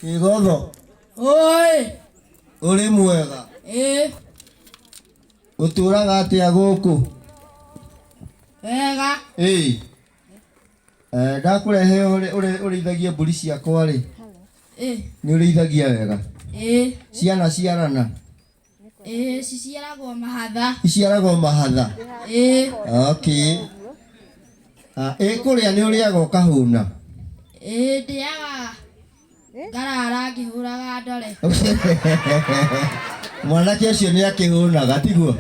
Kĩgotho Oi. ũrĩ mwega Ĩ. ũtũraga atĩa gũkũ Wega. Ĩĩ. Eh, ndakũrehe ũrĩ- ũrĩ- ũrĩithagie mbũri ciakwa rĩ Ĩ. nĩ ũrĩithagia wega Ĩ. ciana ciarana Ĩĩ, ciciaraga o mahatha. Iciaraga o mahatha? Ĩĩ. Okay. Ah, ĩ kũrĩa nĩ ũrĩaga ũkahũna? Ĩĩ ndĩaga ngarara ngĩhũraga ndore. Mwanake ũcio nĩ akĩhũnaga, tiguo?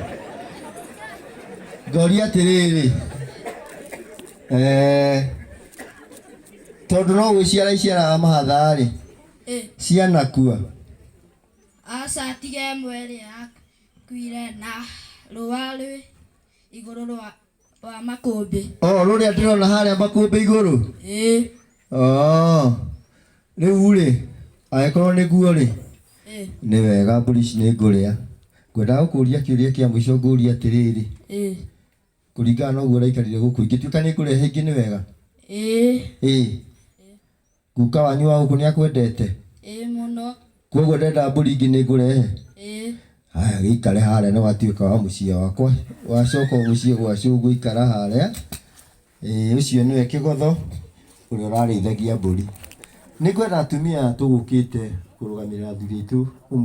Ngoria atĩrĩrĩ, eh, tondũ no gwĩciara iciaraga mahatha-rĩ, Ĩĩ. cianakua Aca tiga ĩmwe ĩrĩa yakuire na rũũa rwĩ igũrũ rwa, rwa makũmbĩ. Oo rũrĩa ndĩrona harĩa makũmbĩ igũrũ? Ĩĩ. Oo. Rĩu-rĩ, angĩkorwo nĩguo-rĩ, Ĩĩ. nĩ wega mbũri ici nĩngũrĩa. Ngwendaga gũkũria kĩũria kĩa mũico ngũrie atĩrĩrĩ, Ĩĩ. kũringana na ũguo ũraikarire gũkũ, ingĩtuĩka nĩngũrehe ingĩ nĩ wega? Ĩĩ. Ĩĩ. Guka wanyu wa gũkũ nĩakwendete? Ĩĩ mũno. Kwoguo ndendaga mbũri ingĩ nĩngũrehe? Ĩĩ. Haya gĩikare harĩa nĩwatuĩka wa mũciĩ wakwa. Wacoka ũmũciĩ gwa cũguo ikara harĩa. Ĩĩ ũcio nĩwe Kĩgotho ũrĩa ũrarĩithagia mbũri. Nĩngwenda atumia aya tũgũkĩte kũrũgamĩrĩra athuri aitũ ũmũthĩ.